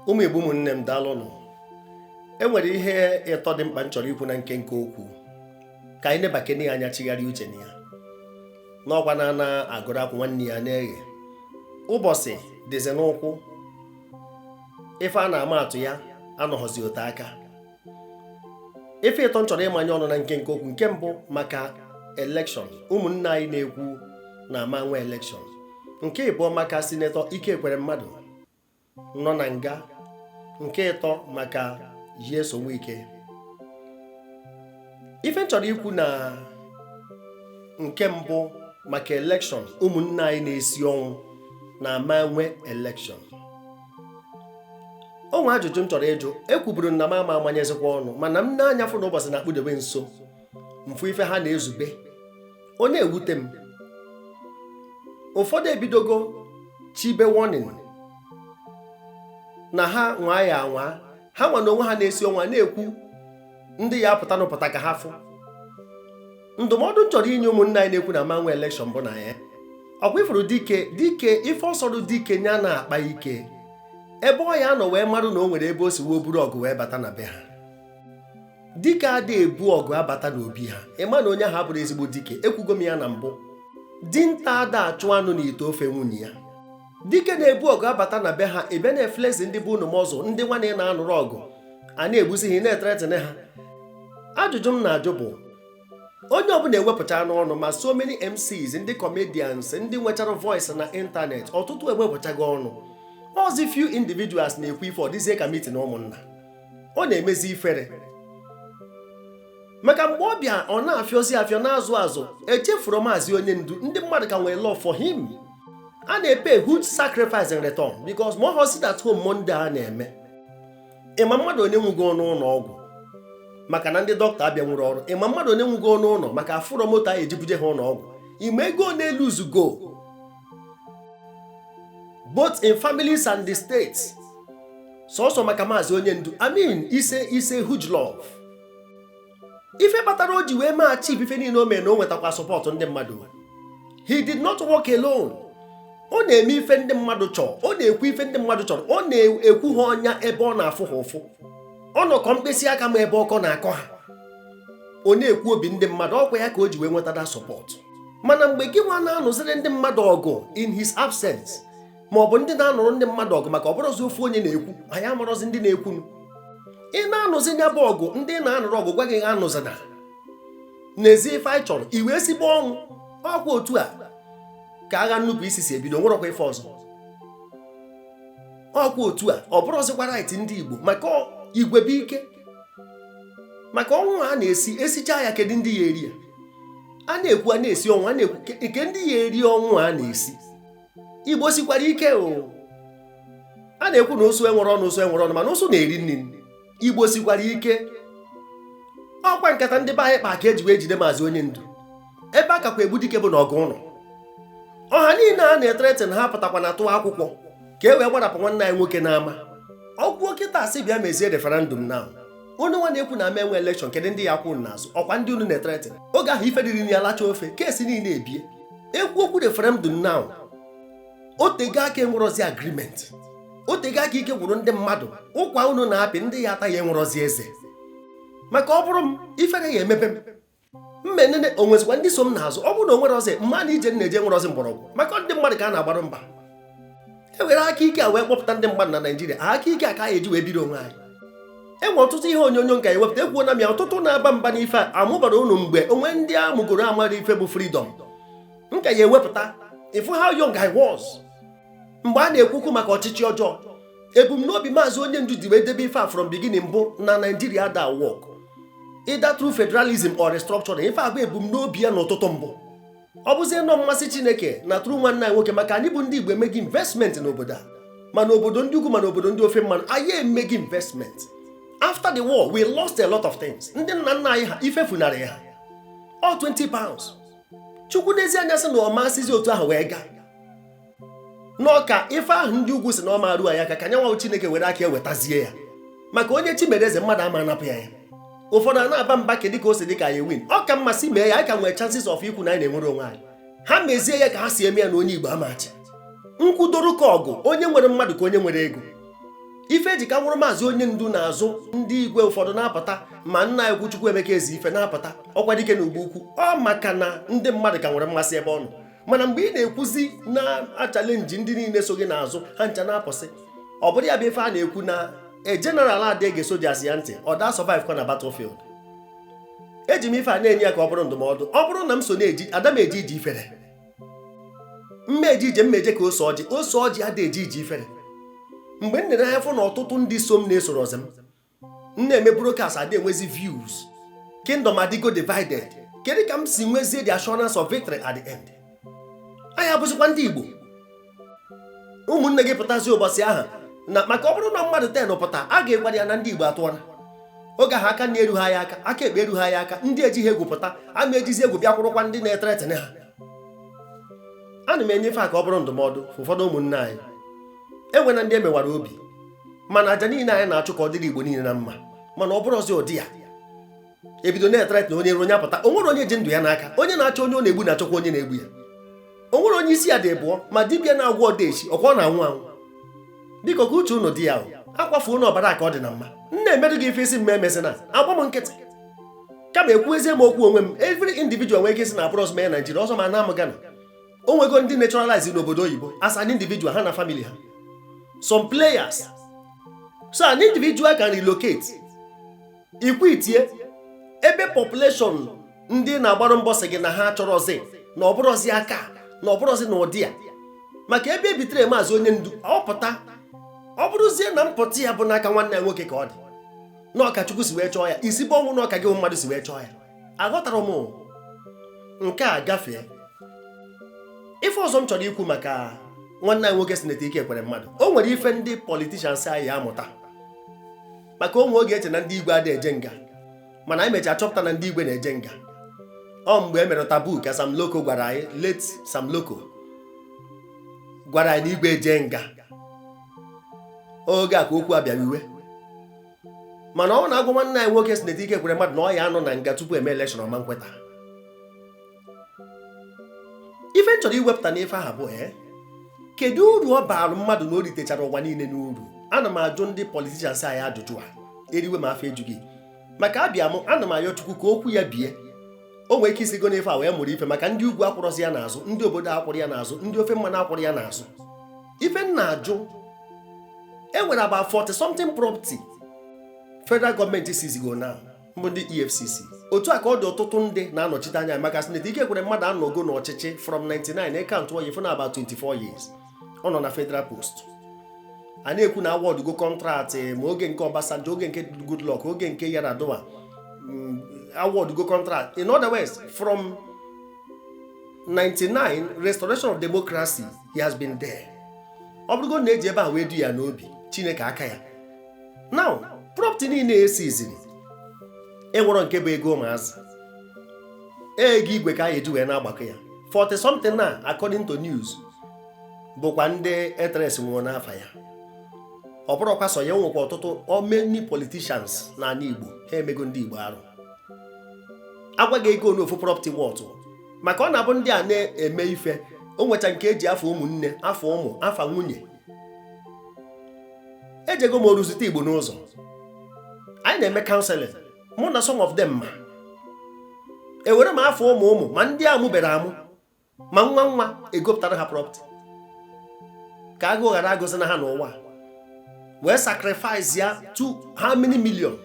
ụmụ Igbo ụmụnne m daalụnụ e nwere ihe ịtọ dị mkpa m chọrọ ikwu na nkenke okwu ka anyị nebakene ya anya chigharịa uche na ya n'ọkwa na ana agụrụ akwụ nwanne ya na-eghe ụbọsị dịzi n'ụkwụ ife a na-ama atụ ya anọghọzi ote aka ife ịtọ m chọrọ ịmanye ọnụ na nkenke okwu nke mbụ maka elekshọn ụmụnna anyị na-ekwu na ama enwe elekshọn nke ịbụọ maka sinetọ Ike Ekweremadu nọ na nga nke ịtọ maka Nyesom Wike ife m chọrọ ikwu na nke mbụ maka elekshọn ụmụnna anyị na-esi ọnwụ na ama enwe elekshọn o nwe ajụjụ m chọrọ ịjụ ekwuburu m na m ama amanyezikwa ọnụ mana m nee anya fụ na ụbọsị na-akpụdebe nso m fụ ife ha na-ezube ọ na-ewute m ụfọdụ ebidogo chibe warning na ha nwaa ya anwa ha nwa n'onwe ha na-esi ọnwụ na-ekwu ndị ya-apụtanụ pụta ka ha fụ ndụmọdụ m chọrọ inye ụmụnna anyị na-ekwu na ama enwe elekshọn bụ na ya ọkwa ị fụrụ dike dike ife ọ sọrụ dike nya na-akpa ike ebe ọ ya-anọ wee marụ na o nwere ebe o si wee buru ọgụ wee bata na be ha dike adịghị ebu ọgụ abata n'obi ha ị ma na onye ahụ abụrọ ezigbo dike ekwugo m ya na mbụ dinta ada achụ anụ n'ite ofe nwunye ya dike na-ebu ọgụ abata na be ha ebe na-eflezi ndị bụ unu m ọzọ ndị nwa na ị na-anụrụ ọgụ a na-egbuzi ha na-ethreaten ha ajụjụ m na-ajụ bụ onye ọbụna ewepụchaanụ ọnụ ma so many MCs ndị comedians ndị nwechara voice n'ịntanetị ọtụtụ ewepụchago ọnụ ọzi few individuals na-ekwu ife ọ dịzie ka mitin ụmụnna ọ na-emezi ifere maka mgbe ọ bịa ọ na-afịọzi afịọ n'azụ azụ echefurọ maazị onye ndu ndị mmadụ ka nwere love for him a na-epay huge sacrifice in return because ma ọ sit at home Monday a na-eme ị ma mmadụ one nwụgo n'ụnọ ọgwụ maka na ndị dọkịta abịanwurọ ọrụ ị ma mmadụ one nwụgo n'ụnọ maka afụrọ moto a ya-eji buje ha ụnọ ọgwụ ị ma ego one eluuzugo both in families and the states sọsọ maka maazị onye ndu I mean it's a it's a huge love ife kpatara o ji wee mee achieve ife niine o mere na o nwetakwa support ndị mmadụ he did not work alone ọ na-eme ife ndị mmadụ chọrọ ọ na-ekwu ife ndị mmadụ chọrọ ọ na-ekwu ha ọnya ebe ọ na-afụ ha ụfụ ọ nọkọ mkpịsị aka ma ebe ọkọ na-akọ ha ọ na-ekwu obi ndị mmadụ ọkwa ya ka o ji wee nweta that support mana mgbe gị nwa na-anụziri ndị mmadụ ọgụ in his absence ma ọ bụ ndị na-anụrụ ndị mmadụ ọgụ maka ọ bụrọzi ofu onye na-ekwu anyị amarọzi ndị na-ekwu ị na-anụzi nya bụ ọgụ ndị ị na-anụrụ ọgụ gwa gị anụzina n'ezi ife anyị chọrọ iwe ezigbo ọnwụ ọkwa otu a ka agha nnupụ isi si ebido o nwerọkwa ife ọzọ ọkwa otu a ọ bụrụzikwa right ndị Igbo maka igwe bụ ike maka ọnwụ a na-esi esicha ya kedu ndị ya eri ya a na-ekwu a na-esi ọnwụ a na-ekwu nke ndị ya eri ọnwụ a na-esi igbo sikwara ike o a na-ekwu na ụsụ enwerọ ọnụ ụsụ enwerọ ọnụ mana ụsụ na-eri nri igbo sikwara ike ọkwa nkata ndị be anyị kpa ka e ji wee jide maazị onye ndu ebe a kakwa egbu dike bụ na ọgụ ụnọ ọha niine a na-ethreaten na ha apụtakwana tụọ akwụkwọ ka e wee gbarapụ nwanne anyị nwoke n'ama ọkwuo kịta asị bịa mezie referendum now unu nwa na-ekwu na a ma enwe election kedu ndị ya akwụ unu n'azụ ọkwa ndị unu na-ethreaten oge ahụ ife dịrị ya lacha ofe case niine ebie ekwu okwu referendum now o tego aka e nwerọzi agreement o tego aka ike gwụrụ ndị mmadụ ụkwa unu na-apị ndị ya ata ya enwerọzi eze maka ọ bụrụ m ifere ya emebe m m enene o nwezikwa ndị so m n'azụ ọ bụrụ na o nwerọzi m ma na ije m na-eje enwerọzi mgbọrọgwụ maka ọ ndị mmadụ ka a na-agbara mbọ e were aka ike a wee kpọpụta ndị mmadụ na Naịjirịa aka ike a ka anyị eji wee biri onwe anyị e nwere ọtụtụ ihe onyonyo m ka ya ewepụta ekwuona m ya ọtụtụ na-aba mba n'ife a amụbarọ unu mgbe o nwee ndị a mụgoro amarọ ife bụ freedom m ka ya ewepụta ị fụ how young I was mgbe a na-ekwukwu maka ọchịchị ọjọọ ebumnobi maazị onye ndu ji wee debe ife a from beginning bụ na Naịjirịa ada work either true federalism or restructuring ife a bụ ebumnobi ya n'ụtụtụ mbụ ọ bụzi nnọọ mmasị chineke na through nwanne anyị nwoke maka anyị bụ ndị igbo emeghị investment n'obodo a ma n'obodo ndị ugwu ma n'obodo ndị ofe mmanụ anyị emeghị investment after the war we lost a lot of things ndị nna nna anyị ha ife funarị ha ọ 20 pounds chukwu neezi anya sị na ọ ma esizi otu ahụ wee gaa na ọ ka ife ahụ ndị ugwu si na ọ ma eru ya aka ka nya nwa chineke were aka wetazie ya maka onye chi mere eze mmadụ ama anapụ ya ya ụfọdụ a na-aba mba kedụ ka o si dị ka anyị win ọ ka mmasị mee ya anyị ka nwere chances of ikwu na anyị na-enwere onwe anyị ha mezie ya ka ha si eme ya na onye igbo ama achị nkwudoro ka ọgụ onye nwere mmadụ ka onye nwere ego ife e ji ka anwụrụ maazị onye ndu n'azụ ndị igwe ụfọdụ na-apụta ma nna anyị Chukwuemeka Ezeife na-apụta Ọkwadike na Igbo Ukwu ọ maka na ndị mmadụ ka nwere mmasị ebe ọ nọ mana mgbe ị na-ekwuzi na-achallenge ndị niine so gị n'azụ ha ncha na-apụsị ọ bụrọ ya bụ ife a na-ekwu na a general ada ege soldiers ya ntị ọ da survive kwa na battlefield eji m ife a na-enye ya ka ọ bụrụ ndụmọdụ ọ bụrụ na m so na-eji ada m eje ije ifere m eje ije m eje ka ose ọjị ose ọjị ada eje ije ifere mgbe m nere anya fụ na ọtụtụ ndị so m na esorọzi m m na-eme broadcast adị enwezi views kingdom adịgo divided kedu ka m si nwezie the assurance of victory at the end anyị abụzikwa ndị Igbo ụmụnne gị pụtazi ụbọchị ahụ na maka ọ bụrụ na mmadụ ten pụta a ga-egwara ya na ndị Igbo atụọla oge ahụ aka nri eru ha ya aka aka ekpe eru ha ya aka ndị ejighị egwu pụta a ma ejizi egwu bịa kwụrụkwa ndị na-ethreaten ha ana m enye ife a ka ọ bụrụ ndụmọdụ ụfọdụ ụmụnne anyị enwena ndị emewara obi mana aja niile anyị na-achụ ka ọ dịrị igbo niile na mma mana ọ bụrụzi ụdị ya ebido na-ethreaten onye iro onye apụta o nwere onye ji ndụ ya n'aka onye na-achọ onye ọ na-egbu na-achọkwa onye na-egbu ya o nwere onye isi ya dị abụọ ma dibịa na-agwọ odeshi ọkwa ọ na-anwụ anwụ biko ka uche unu dị ya akwafuna ọbara ka ọ dị na mma nna emerụ gị ife isi mma emesịna agba m nkịtị kama ekwuezie m okwu onwe m every individual nwere ike sị na abụrọzi m Naijiria ọzọ ma na amụ Gana o nwego ndị naturalize n'obodo oyibo as an individual ha na family ha some players so an individual can relocate ikwitie ebe population ndị na-agbara mbọ sị gị na ha achọrọzi na ọbụrụzi aka na ọbụrụzi na ụdị a maka ebe ebitere maazị onye ndu apụta ọ bụrụzie na mpụta ya bụ n'aka nwanne ya nwoke ka ọ dị na ọ ka Chukwu si wee chọọ ya isi bụ ọnwụ na ọ ka gị mmadụ si wee chọọ ya aghọtara m nke a gafee ife ọzọ m chọrọ ikwu maka nwanne anyị nwoke Senator Ike Ekweremadu o nwere ife ndị politishans anyị ya amụta maka o nwe oge e che na ndị igwe adị eje nga mana anyị mechaa chọpụta na ndị igwe na-eje nga ọ mgbe e mere tabu ka Sam Loco gwara anyị late Sam Loco gwara anyị na igwe eje nga oge a ka okwu abịara iwe mana ọ bụ na a gwa nwanne anyị nwoke Senator Ike Ekweremadu na ọ ya anọ na nga tupu e mee elekshọn ọ ma nkweta ife m chọrọ iwepụta n'ife ahụ bụ ee eh, kedu uru ọ baara mmadụ na o ritechara ụwa niile n'uru ana m ajụ ndị politishans anyị ajụjụ a eriwe ma afọ ejughị maka abịa m ana m ayọ chukwu ka okwu ya bie o nwee ike isigo n'ife a wee mụrụ ife maka ndị ugwu akwụrọzi ya n'azụ ndị obodo akwụrụ ya n'azụ ndị ofe mmanụ akwụrụ ya n'azụ ife m na-ajụ e nwere about 40 something property federal gọọmenti siizigo na mbụ ndị efcc otu a ka ọ dị ọtụtụ ndị na-anọchite anya maka Senator Ike Ekweremadu anọgo n'ọchịchị from 99 ekantụọ ị fụ na about 24 years ọ nọ na federal post a na-ekwu na awọdụgo kọntraktị ma oge nke Obasanjo oge nke Goodluck oge nke Yar'Adua mm, awọdụgo kọntraktị in other words from 99 restoration of democracy he has been there ọ bụrụgo na eji ebe a wee du ya n'obi chineke aka ya now property niile e siiziri enwero nke bụ ego ụmụazị ego igwe ka a eji wee na-agbakọ ya 40 something na according to news bụkwa ndị e trace nwuru n'afa ya ọ bụrọkwa sọ ya o nwekwa ọtụtụ how many politicians n'ala Igbo ha emego ndị Igbo arụ agwa gị ego one ofu property worth maka ọ na-abụ ndị a na-eme ife o nwecha nke eji afa ụmụnne afa ụmụ afa nwunye ejego m oru zute igbo n'ụzọ anyị na-eme counseling mụ na some of them ma ewere ma afa ụmụ ụmụ ma ndị amụberọ amụ ma nwa nwa egopụtara ha property ka agụụ ghara agụzi na ha n'ụwa wee sacrifice ya to how many million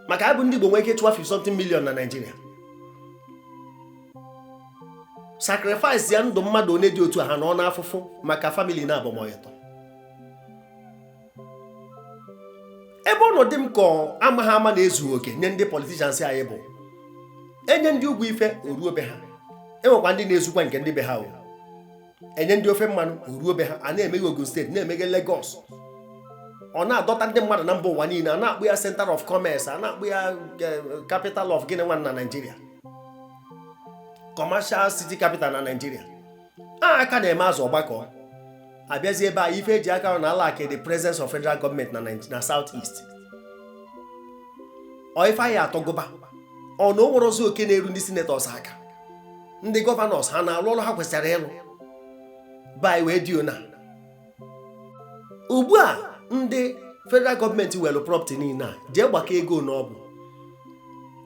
maka anyị bụ ndị Igbo nwee ike chụwa 50 something million na Naịjirịa sacrifice ya ndụ mmadụ one dị otu a ha nọ n'afụfụ maka family naabọ mọ ịtọ ebe ọ na-adị m ka amaghị ama na-ezughị oke nye ndị politicians anyị bụ enye ndị ugwu ife o ruo be ha enwekwa ndị na-ezukwa nke ndị be ha o enye ndị ofe mmanụ o ruo be ha a na-emeghe Ogun state na-emeghe Lagos ọ na-adọta ndị mmadụ na mba ụwa niile a na-akpọ ya center of commerce a na-akpọ ya eh, capital of gịnị nwa na Nigeria commercial city capital na Nigeria a aka na-eme azụ ọ gbakọọ abịazi ebe a ife eji aka na-alack the presence of federal gọọmenti na na south east ọ ife anyị atọgụba ọnụ o nwere ozi oke na-eru ndị senators aka ndị gọvanọs ha na-alụ ọrụ ha kwesịrị ịlụ be anyị wee dị ona ugbu a ndị federal gọọmenti were property niile a jee gbakọ ego n'ọbụ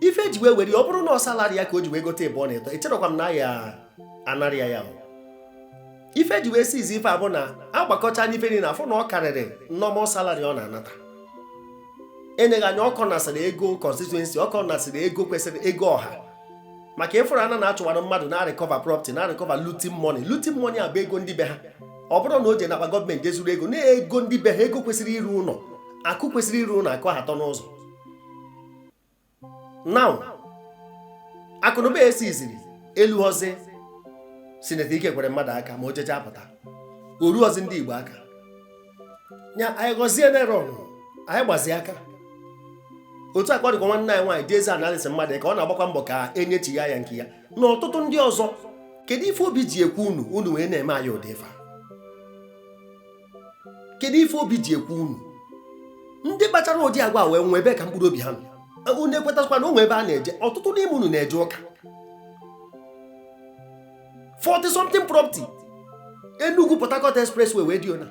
ife eji wee were ọ bụrụ na ọ salary ya ka o ji wee gote ebe ọ na-eto echerọkwa m na a ya-anara ya ya ife eji wee seize ife a bụ na agbakọcha ife niile a fụ na ọ karịrị normal salary ọ na-anata eneghị anya ọ kọnasịrị ego constituency ọ kọnasịrị ego kwesịrị ego ọha maka ị fụrụ a na na-achụwara mmadụ na-arecover property na-arecover looting money looting money a bụ ego ndị be ha ọ bụrụ na o je n'akpa gọọmenti ezuru ego na ego ndị be ha ego kwesịrị iru ụlọ akụ kwesịrị iru ụlọ akụ ahụ atọ n'ụzọ now akụnụba e siiziri elurozi sineta Ike Ekweremadu aka ma o jecha apụta o rurozi ndị igbo aka nya anyị gọzie neron anyị gbazi aka otu a ka ọ dịkwa nwanne anyị nwaanyị Diezani Alison Madueke ọ na-agbakwa mbọ ka enyechigha ya nke ya na ọtụtụ ndị ọzọ kedu ife obi ji ekwe unu unu wee na-eme anyị ụdị ife kedu ife obi ji ekwe unu ndị kpachara ụdị agwa wee nwee ebee ka mkpụrụ obi ha nọ unu ekwetakwa na o nwe ebe a na-eje ọtụtụ n'ime unu na-eje ụka 40 something property Enugu Port Harcourt expressway wee dị ona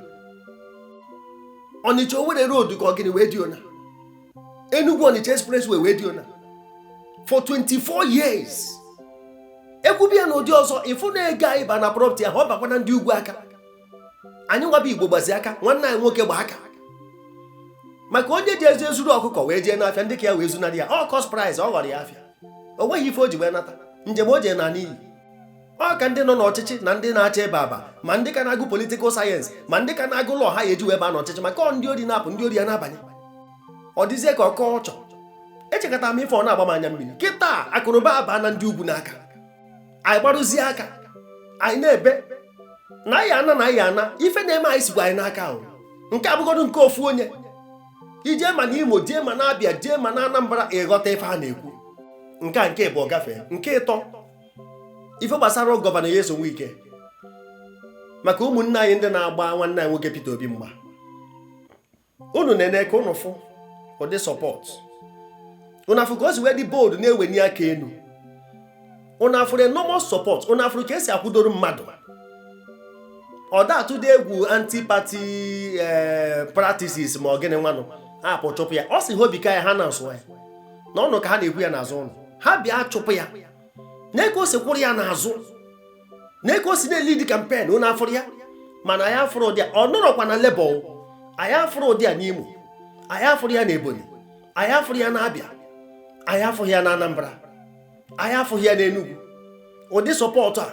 Onitsha Owerri road ka ọ gịnị wee dị ona Enugu Onitsha expressway wee dị ona for 24 years e kwubie ya n'ụdị ọzọ ị fụ na ego anyị ba na property ahụ ọ bakwara ndị ugwu aka anyị nwa bụ Igbo gbazi aka nwanne anyị nwoke gba aka maka onye ji ezi ezuru ọkụkọ wee jee n'afịa ndị ka ya wee zunarị ya ọ cost price ọ ghọrọ ya afịa o nweghị ife o ji wee nata njem o jee na n'iyi ọ ka ndị nọ n'ọchịchị na ndị na-achọ ebe aba ma ndị ka na-agụ political science ma ndị ka na-agụ law ha ya eji wee baa n'ọchịchị maka ọ ndị ori na-apụ ndị ori ya na-abanye ọ dịzie ka ọkọ ọchọ echekọta m ife ọ na-agba m anya mmiri kịta akụnụba abaana ndị ugwu n'aka anyị gbarazi aka anyị na-ebe na anyị ana na anyị ana ife na-eme anyị sikwa anyị n'aka ahụ nke a bụgodu nke ofu onye i jee ma na Imo jee ma na Abịa jee ma na Anambra ị ghọta ife a na-ekwu nke a nke ịbụọ gafee nke ịtọ ife gbasara Governor Nyesom Wike maka ụmụnne anyị ndị na-agba nwanne anyị nwoke Peter Obi mgba unu na-ene ka unu fụ ụdị support unu afụrụ ka o si wee dị bold na-eweni aka enu unu afụrụ enormous support unu afụrụ ka e si akwụdoro mmadụ ọ da atụdị egwu anti-party eh, practices ma ọ gịnị nwanụ a pụ chụpụ ya ọ sị ha obi ka ya ha na nsụ ya na ọnụ ka ha na-akwụ ya n'azụ nụ ha bịa chụpụ ya nee ka o si kwụrụ ya n'azụ nee ka o si na-elead campaign unu afụrụ ya mana anyị afụrụ ụdị a ọ nọrọkwa na Labour anyị afụrụ ụdị a n'Imo anyị afụrụ ya na Ebonyi anyị afụrụ ya na Abịa anyị afụghị ya na Anambra anyị afụghị ya na Enugu ụdị support a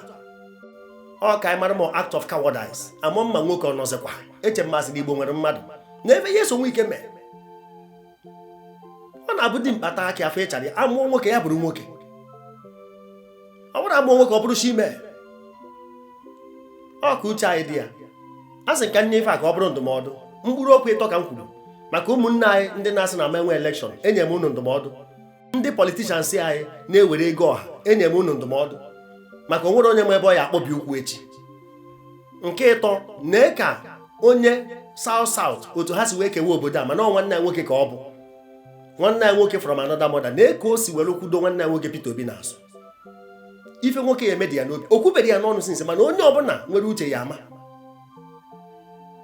ọ ka anyị mara ma act of cowardice amụ mma nwoke ọ nọzikwa eche ma a sị na Igbo nwere mmadụ na ife Nyesom Wike mee ọ na-abụ dimkpa taa akị a fụ ichere ya a mụọ nwoke ya bụrụ nwoke ọ bụrụ a mụọ nwoke ọ bụrụ chi mee ọ ka uche anyị dị ya asị ka m nye ife a ka ọ bụrụ ndụmọdụ mkpụrụ okwu ịtọ ka m kwuru maka ụmụnne anyị ndị na-asị na a ma-enwe election enye m unu ndụmọdụ ndị politicians anyị na-ewere ego ọha enye m unu ndụmọdụ maka o nwerọ onye ma ebe ọ ya akpọbi ụkwụ echi nke ịtọ nee ka onye South South otu ha si wee kewa obodo a mana nwanne ya nwoke ka ọ bụ nwanne ya nwoke from another mother nee ka o si were kwụdo nwanne ya nwoke Peter Obi n'azụ ife nwoke ya emedi ya n'obi o kwubere ya n'ọnụ since mana onye ọbụla nwere uche ya ama